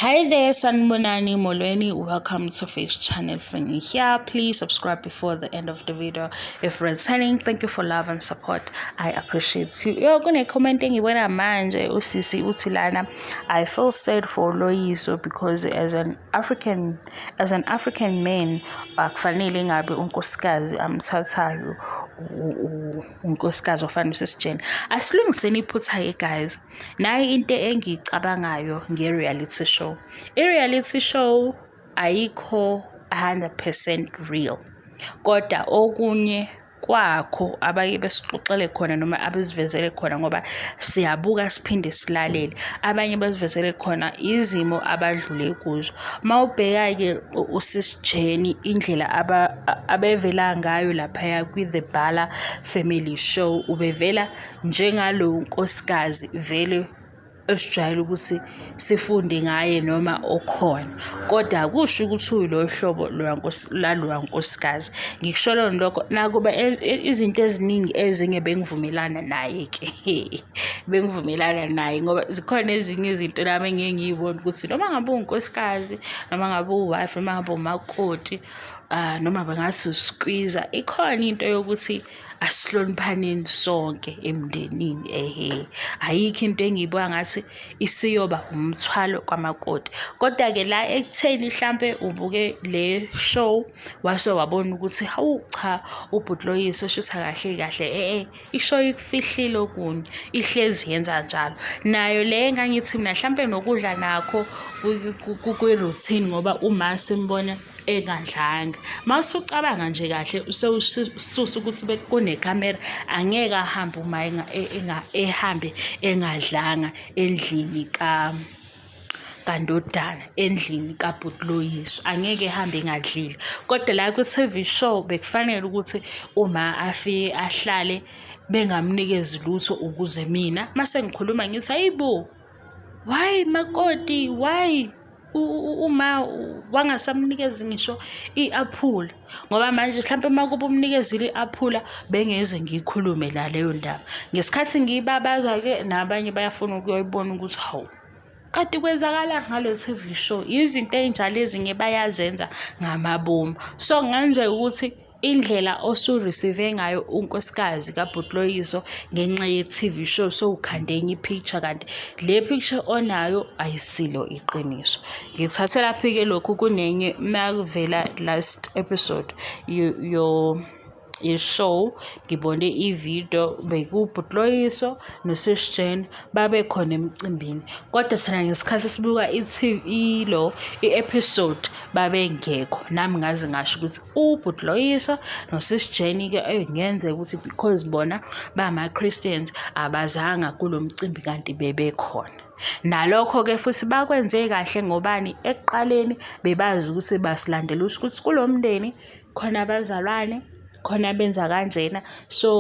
Hi there, Sanbonani Molweni. Welcome to Face Channel Fini here. Please subscribe before the end of the video. If you're signing, thank you for love and support. I appreciate you. Yo, kune comment engibona manje usisi uthi lana. I feel sad for Loyiso because as an African as an African man akufanele ngabe unkosikazi amthathayo unkosikazi ofanele usisijeni. Asilungiseni iphutha ye guys. nayi into engiyicabangayo nge-reality show i-reality show ayikho 100% real kodwa okunye kwakho abake besixoxele khona noma abesivezele khona ngoba siyabuka siphinde silalele abanye basivezele khona izimo abadlule kuzo uma ubheka-ke usisijeni indlela abevela ngayo laphaya kwi-the bhala family show ubevela njengalo nkosikazi vele esijwayele ukuthi sifunde ngaye noma okhona kodwa kusho ukuthi uyilolu hlobo laloya nkosikazi ngikusho lona lokho nakuba e-, e-, izinto eziningi ezinye bengivumelana naye-ke bengivumelana naye ngoba zikhona ezinye izinto nami engike ngiyibone ukuthi noma ngabe unkosikazi noma ngabe uwife noma ngabe umakoti um noma bengathi usikwiza ikhona into yokuthi asihloniphaneni sonke emndenini ehe ayikho into engiyibuka ngathi isiyoba umthwalo kwamakoti kodwa-ke la ekutheni mhlampe ubuke le show wase wabona ukuthi hawu cha ubhuti loyiso shuthi kahle kahle e-e ishow ikufihlile okunye ihlezi yenza njalo nayo le engangithi mina mhlampe nokudla nakho kwi-routine ngoba uma simbona engadlanga mawusucabanga nje kahle usewususa ukuthi kunekhamera angeke ahambe uma ehambe engadlanga endlini ka kandodana endlini kabhuti loyiso angeke ehambe engadlile kodwa la kwi-tv show bekufanele ukuthi uma afike ahlale bengamnikezi lutho ukuze mina uma sengikhuluma ngithi ayibo why makoti why uma wangasamnikezi ngisho i-aphula ngoba manje mhlawumpe uma kuba umnikezile i-aphula bengeze ngiyikhulume la leyo ndaba ngesikhathi ngiyibabaza-ke nabanye bayafuna ukuyoyibona ukuthi hawu kade kwenzakala ngale TV show izinto ezinjalo ezinye bayazenza ngamabomu so kungenzeka ukuthi indlela osu-receive ngayo unkosikazi kabhutloyiso ngenxa ye-tv show sowukhande enye i-picture kanti le picture onayo ayisilo iqiniso ngithathe laphi-ke lokhu kunenye makuvela last episode yo ye-show ngibone ividiyo bekubhutloyiso nosisjane babe khona emcimbini kodwa thina ngesikhathi sibuka ilo i-episode babengekho nami ngaze ngasho ukuthi ubhuti loyisa nosisi jeni-ke engenzeka eh, ukuthi because bona bama-christians abazanga kulo mcimbi kanti bebekhona Nalokho-ke futhi bakwenze kahle ngobani? Ekuqaleni bebazi ukuthi basilandela usho ukuthi kulo mndeni khona abazalwane, khona abenza kanjena. So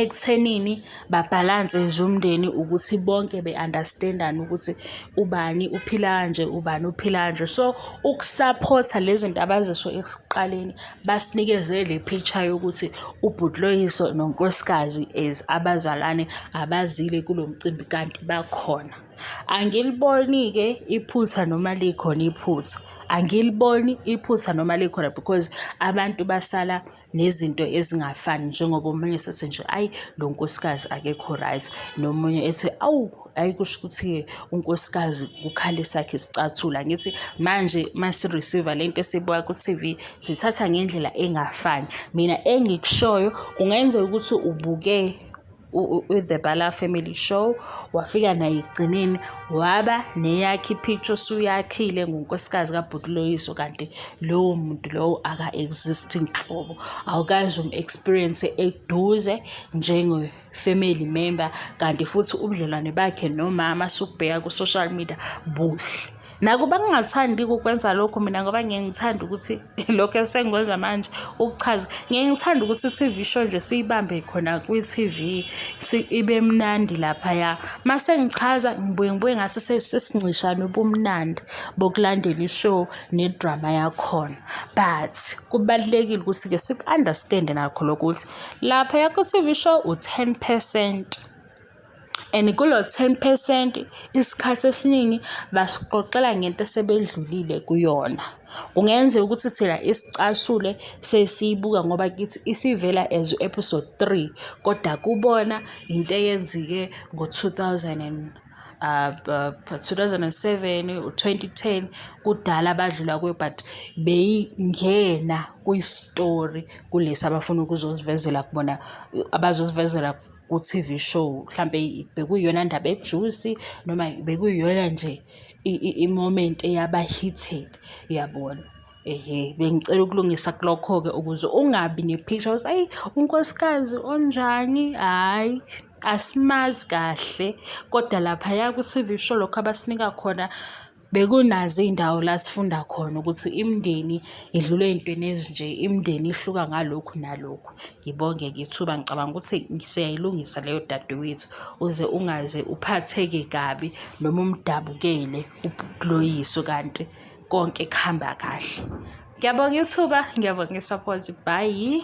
ekuthenini babhalanse nje umndeni ukuthi bonke be-understand-ane ukuthi ubani uphila kanje ubani uphila kanje so ukusaphotha le zinto abazisho ekuqaleni basinikeze le picture yokuthi ubhutloyiso nonkosikazi as abazalwane abazile kulo mcimbi kanti bakhona angiliboni-ke iphutha noma likhona iphutha angiliboni iphutha noma likhona because abantu basala nezinto ezingafani njengoba omunye sethi nje ayi lo nkosikazi akekho right nomunye ethi awu ayi kusho ukuthi-ke unkosikazi kukhale sakhe sicathula ngithi manje uma si-receive-a le nto esibuka ku-tv sithatha ngendlela engafani mina engikushoyo kungenzeka ukuthi ubuke the Bala Family Show wafika naye ekugcineni waba neyakhe ipicture usuyakhile ngonkosikazi kabhuti loyiso kanti lowo muntu lowo aka-exist nhlobo awukazi um-experience eduze njengo family member kanti futhi ubudlelwane bakhe nomama sukubheka ku-social media buhle Nakuba ngingathandi ukukwenza lokho mina ngoba ngiyeke ngithande ukuthi lokho esengikwenza manje ukuchaza, ngiyeke ngithande ukuthi i-T_V show nje siyibambe khona kwi-T_V ibe mnandi laphaya. Uma sengichaza ngibuye ngibuye ngathi sesincishana ubumnandi bokulandela i-show ne-drama yakhona. But kubalulekile ukuthi-ke siku-understand-e nakho lokho ukuthi laphaya kwi-T_V show u-ten percent. and kulo 10 percent isikhathi esiningi basixoxela ngento esebedlulile kuyona kungenzeka ukuthi thina isicasule sesiyibuka ngoba kithi isivela as episode 3 kodwa kubona into eyenzike ngo-2000 uh, uh, 2007 u-2010 kudala badlula kuyo but beyingena kwistory kulesi abafuna ukuzosivezela kubona abazosivezela ku-TV show mhlampe bekuyiyona ndaba ejuicy noma bekuyiyona nje i-moment eyaba heated yabona ehe bengicela ukulungisa kulokho-ke ukuze ungabi ne-picture ukuthi ayi unkosikazi onjani hhayi asimazi kahle kodwa laphaya ku-TV show lokho abasinika khona bekunazo iy'ndawo la sifunda khona ukuthi imindeni idlule ey'ntweni ezinje imindeni ihluka ngalokhu nalokhu ngibonge ngethuba ngicabanga ukuthi siyayilungisa leyo dadewethu uze ungaze uphatheke kabi noma umdabukele ubhloyiso kanti konke kuhamba kahle ngiyabonga ithuba ngiyabonga isupport bhayi